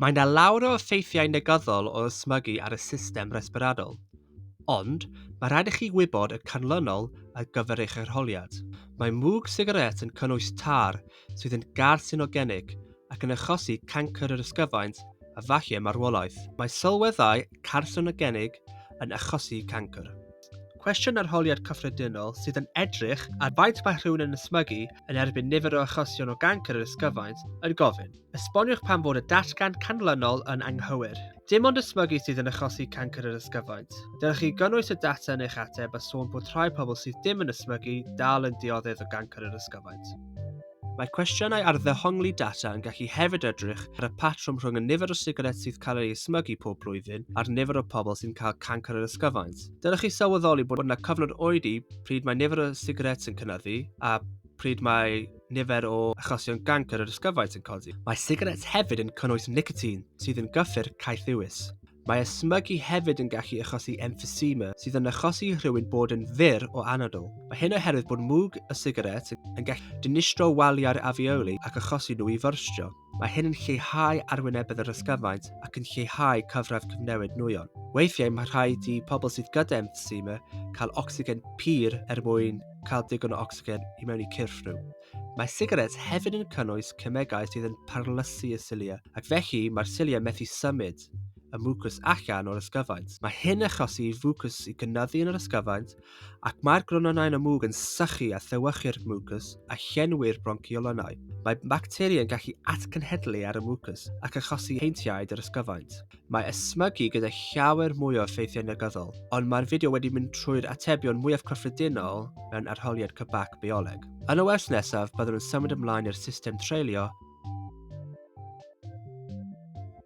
Mae yna lawr o effeithiau negyddol o ysmygu ar y system resbyradol, ond mae rhaid i chi wybod y canlynol ar gyfer eich arholiad. Mae mwg sigaret yn cynnwys tar sydd yn garcinogenig ac yn achosi cancr yr ysgyfaint a falle marwolaeth. Mae sylweddau carcinogenig yn achosi cancr. Cwestiwn arholiad cyffredinol sydd yn edrych ar faint mae rhywun yn ysmygu yn erbyn nifer o achosion o gancr yr ysgyfaint yn gofyn. Esboniwch pam fod y datgan canlynol yn anghywir. Dim ond ysmygu sydd yn achosi cancr yr ysgyfaint. Dylech chi gynnwys y data yn eich ateb a sôn bod rhai pobl sydd dim yn ysmygu dal yn dioddef o gancr yr ysgyfaint. Mae cwestiynau ar ddehongli data yn gallu hefyd edrych ar y patrwm rhwng y nifer o sigaret sydd cael ei ysmygu pob blwyddyn a'r nifer o pobl sy'n cael cancr yr ysgyfaint. Dylech chi sylweddoli bod yna cyfnod oedi pryd mae nifer o sigaret yn cynyddu a pryd mae nifer o achosion gancr yr ysgyfaint yn codi. Mae sigaret hefyd yn cynnwys nicotine, sydd yn gyffur caethiwus. Mae ysmygu hefyd yn gallu achosi emphysema, sydd yn achosi rhywun bod yn fyr o anadl. Mae hyn oherwydd bod mwg y sigaret yn gallu dinistro waliau'r afeoli ac achosi nhw i fyrstio. Mae hyn yn lleihau arwynebedd yr ysgyfaint ac yn lleihau cyfradd cyfnewid nwyon. Weithiau mae rhaid i pobl sydd gyda emphysema cael ocsigen pur er mwyn cael digon o ocsigen i mewn i cyrff nhw. Mae sigaret hefyd yn cynnwys cemegau sydd yn parlysu y cilia, ac felly mae'r cilia methu symud y mwcws allan o'r ysgyfaint. Mae hyn yn achosi i fwcws i gynyddu yn yr ysgyfaint ac mae'r grononau'n y mwg yn sychu a thewyrchu'r mwcws a llenwi'r bronciolonau. Mae bacteri yn gallu atgenhedlu ar y mwcws ac achosi heintiaid yr ysgyfaint. Mae ysmygu gyda llawer mwy o effeithiau negyddol, ond mae'r fideo wedi mynd trwy'r atebion mwyaf cyffredinol mewn arholiad cybac bioleg. Yn y wers nesaf, byddwn yn symud ymlaen i'r system treulio